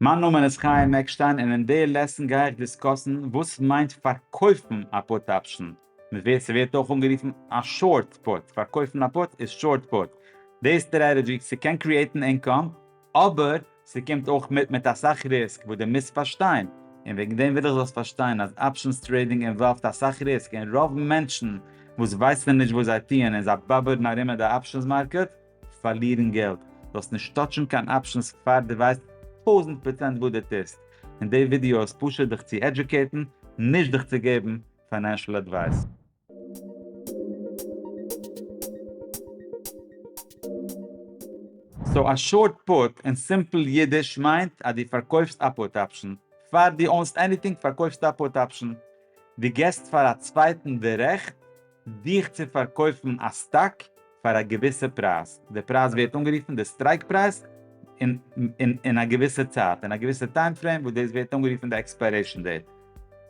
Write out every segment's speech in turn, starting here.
מיין נאמען איז חיים עקשטיין און אין די לעסן גיי איך דיסקאסן וואס מיינט פארקויפן א פוט אפשן, ס'ווערט אויך אנגערופן א שארט פוט, פארקויפן א פוט איז שארט פוט, די סטרעטעדזשי, ס'קען קריעטן אינקאם אבער ס'קומט אויך מיט מיט אסאך ריסק וואס די מוזט פארשטיין, און וועגן דעם וויל איך זאלסט פארשטיין אז אפשענס טרעידינג אינוואלווד אסאך ריסק און רוב מענטשן וואס ווייסן נישט וואס זיי טוען און זיי באבערן ארום אין די אפשענס מארקעט, פארלירן געלט, זאלסט נישט טאטשן קיין אפשענס פאר דו ווייסט טויזנט פראצענט וואס דו טוסט, און די ווידיאו איז פשוט דיך צו עדיוקעיטן, נישט דיך צו געבן פיינענשל אדווייס. סאו א שארט פוט אין סימפל אידיש מיינט אז דו פארקויפסט א פוט אפשן, פאר דו אונסט עניטינג פארקויפסטו א פוט אפשן, דו געסט פאר א צווייטן די רעכט דיך צו פארקויפן א סטאק פאר א געוויסע פרייז, די פרייז ווערט אנגערופן די סטרייק פרייז, אין א געוויסע צייט, אין א געוויסע טיים פרעים, וואס דאס ווערט אנגערופן די עקספיירעישן דעיט.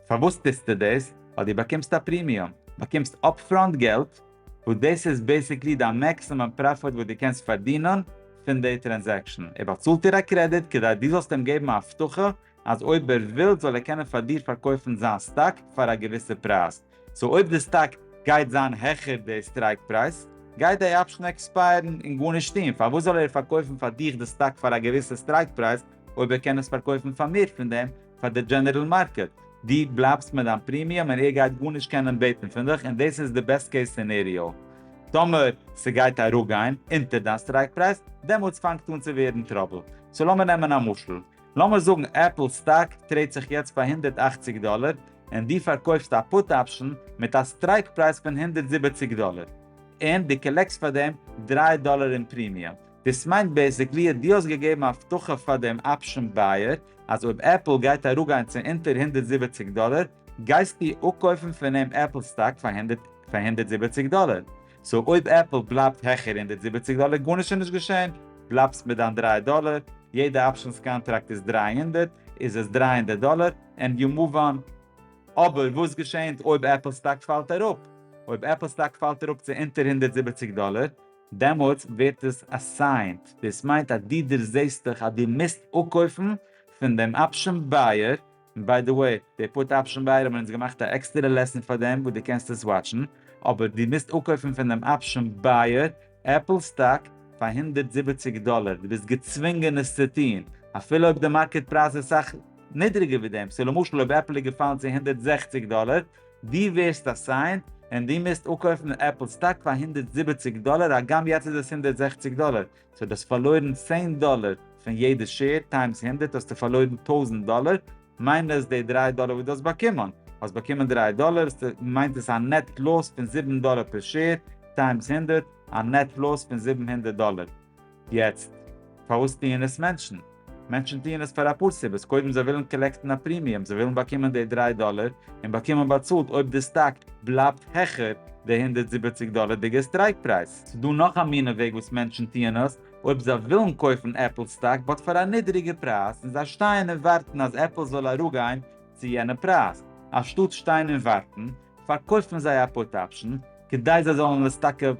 פארוואס טוסטו דאס? ווייל דו באקומסט א פרימיום, באקומסט אפפראנט געלט, וואס דאס איז בעיסיקלי דיין מעקסימום פראפיט וואס דו קענסט פארדינען פון די טרענזעקשן. ער באצאלט דיר א קרעדיט כדי דו זאלסט אים געבן א הבטחה אז אויב ער וויל זאל ער קענען פאר דיר פארקויפן זיין סטאק פאר א געוויסע פרייז. סאו אויב די סטאק גייט זיין העכער די סטרייק פרייז, גייט די אפשן עקספייערן און גארנישט טון, פארוואס זאל ער פארקויפן פאר דיך די סטאק פאר א געוויסע סטרייק פרייז אויב ער קען עס פארקויפן פאר מער פון דעם פאר די דזשענערל מארקעט? דו בלייבסט מיט דיין פרימיום און ער גייט גארנישט קענען בעטן פון דיך און דאס איז די בעסט קעיס סינעריאו. טאמער ס'גייט אראפגיין אונטער דיין סטרייק פרייז, דעמאלטס פאנגט אן צו ווערן טראבל. סאו לאמיר נעמען א משל. לאמיר זאגן עפל סטאק טרעידט זיך יעצט ביי הונדערט אַכציק דאלער, און דו פארקויפסט א פוט אפשן מיט א סטרייק פרייז פון הונדערט זיבעציק דאלער, און דו קאלעקסט פאר דעם דרײַ דאלער אין פרימיום. דאס מיינט בעיסיקלי אז דו האסט געגעבן א הבטחה פאר דעם אפשן בייער אז אויב עפל גייט אראפגיין צו אונטער הונדערט זיבעציק דאלער, גייסטו אפקויפן פון אים עפל סטאק פאר הונדערט זיבעציק דאלער. סאו אויב עפל בלייבט העכער הונדערט זיבעציק דאלער גארנישט איז נישט געשען, בלייבסט מיט דיין דריי דאלער, יעדע אפשענס קאנטראקט איז דרײַ הונדערט, איז עס דרײַ הונדערט דאלער ענד יו מאוו אן. אבער וואס געשענט אויב עפל סטאק פאלט אראפ? אויב עפל סטאק פאלט אראפ צו אונטער הונדערט זיבעציק דאלער, דעמאלטס ווערט עס אסיינט, דאס מיינט אז דו דערזעהסט דיך אז דו מוזט אפקויפן פון דעם אפשען בייער, און ביי די וועי, די פוט אפשן ביי האבן אונז געמאכט א עקסטערע לעסן פאר דעם וואו דו קענסט עס וואטשן, אבער דו מוזט אפקויפן פון דעם אפשן בייער עפל סטאק פאר הונדערט זיבעציק דאלער, דו ביסט געצווינגען עס צו טון, אפילו אויב די מארקעט פרייז איז סאך נידריגער ווי דעם, סאו למשל אויב עפל איז געפאלן צו הונדערט זעכציק דאלער, דו ווערסט אסיינד און דו מוזט אפקויפן עפל סטאק פאר הונדערט זיבעציק דאלער, הגם יעצט איז עס הונדערט זעכציק דאלער, סאו דו האסט פארלוירן צען דאלער פון יעדע שעיר טיימס הונדערט האסטו פארלוירן טויזנט דאלער, מיינוס די דריי דאלער וואס דו האסט באקומען. האסט באקומען דריי דאלער, סאו מיינט עס א נעט לאס פון זיבן דאלער פער שעיר טיימס הונדערט, א נעט לאס פון זיבן הונדערט דאלער. יעצט, פארוואס טוען עס מענטשן? מענטשן טוען עס פאר אפאר סיבות, קודם זיי ווילן קאלעקטן א פרימיום, זיי ווילן באקומען די דריי דאלער, און באקומען באצאלט אויב די סטאק בלייבט העכער די הונדערט זיבעציק דאלערדיגע סטרייק פרייז. ס'איז דא נאך א מינע וועג וואס מענטשן טוען עס, אויב זיי ווילן קויפן עפל סטאק באט פאר א נידריגע פרייז, און זיי שטייען און ווארטן אז עפל זאל אראפגיין צו יענע פרייז, אנשטאט שטיין און ווארטן, פארקויפט מען זיי א פוט אפשן כדי זיי זאלן עס טאקע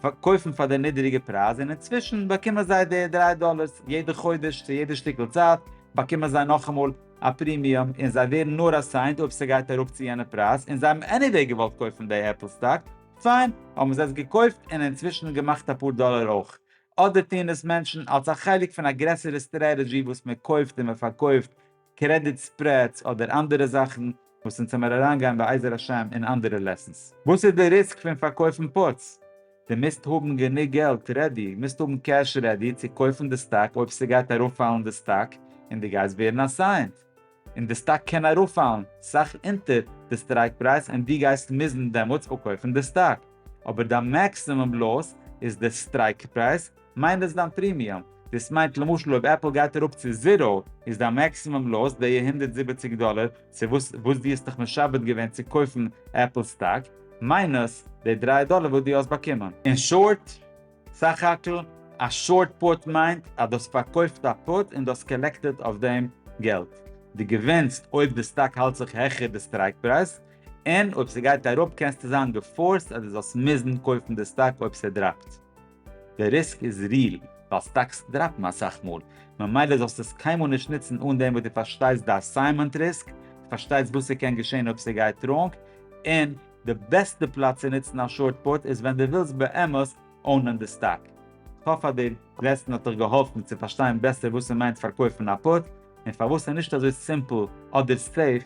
פארקויפן פאר די נידעריגע פרייז און אינצווישן באקומען זיי די דריי דאלערס יעדע חודש צו יעדע שטיקל צייט באקומען זיי נאכאמאל א פרימיום און זיי ווערן נאר אסיינד אויב ס'גייט אראפ צו יענע פרייז און זיי האבן עניוועי געוואלט קויפן די עפל סטאק פיין האבן זיי עס געקויפט און אינצווישן געמאכט אפאר דאלער אויך אדער טוען עס מענטשן אלס א חלק פון א גרעסערע סטרעטעדזשי וואס מ'קויפט און מ'פארקויפט קרעדיט ספרעדס אדער אנדערע זאכן וואס אונז העמער אריינגיין בעזר השם אין אנדערע לעסענס. וואס איז די ריסק פון פארקויפן פוטס? די מוזט האבן גענוג געלט רעדי, מוזט האבן קעש רעדי צו קויפן די סטאק אויב ס'גייט ארויפפאלן די סטאק און די גייסט ווערן אסיינט, און די סטאק קען ארויפפאלן סאך אונטער די סטרייק פרייז און די גייסט מוזן דעמאלטס אפקויפן די סטאק, אבער דיין מעקסימום לאס איז די סטרייק פרייז, מיינט דאס דיין פרימיום? דאס מיינט למשל אויב עפל גייט אראפ צו זיראו איז דיין מעקסימום לאס די הונדערט זיבעציק דאלער צו וואס וואס דו האסט דיך משעבד געווען צו קויפן עפל סטאק, מיינוס די דרײַ דאלער וואס דו האסט באקומען. אין שארט, סך הכל, א שארט פוט מיינט אז דו האסט פארקויפט א פוט און דו האסט קאלעקטעד אויף דעם געלט. דו געווינסט אויב די סטאק האלט זיך העכער די סטרייק פרייז, און אויב ס'גייט אראפ קענסטו זיין געפארסט אז דו זאלסט מוזן קויפן די סטאק אויב ס'דראפט. די ריסק איז ריעל, ווייל סטאקס דראפן אסאך מאל, ממילא זאלסטו עס קיינמאל נישט נוצן אן דעם וואס דו פארשטייסט די אסיינמענט ריסק, דו פארשטייסט וואס ס'קען געשען אויב ס'גייט ראנג, און די בעסטע פלאץ צו נוצן א שארט פוט איז ווען דו ווילסט באמת אונען די סטאק. כ'האף אז די לעסן האט דיך געהאלפן צו פארשטיין בעסער וואס ס'מיינט פארקויפן א פוט, און פארוואס ס'איז נישט אזוי סימפל אדער סעיף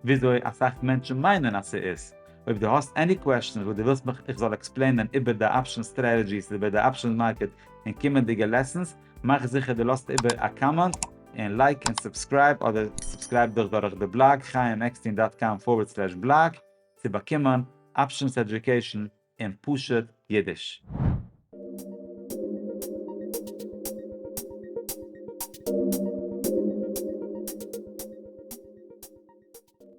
וויאזוי אסאך מענטשן מיינען אז ס'איז. אויב דו האסט עני קוועשאנס וואס דו ווילסט מיך איך זאל עקספלעינען איבער די אפשענס סטרעטעגיס איבער די אפשענס מארקעט אין קומענדיגע לעסענס, מאך זיכער דו לאזט איבער א קאמענט און לייק און סובסקרייב אדער סובסקרייב דיך דורך די בלאג חיים עקסטין דאט קאם פארווערד סלעש בלאג צו באקומען אפשענס עדיוקעישאן אין פשוט אידיש.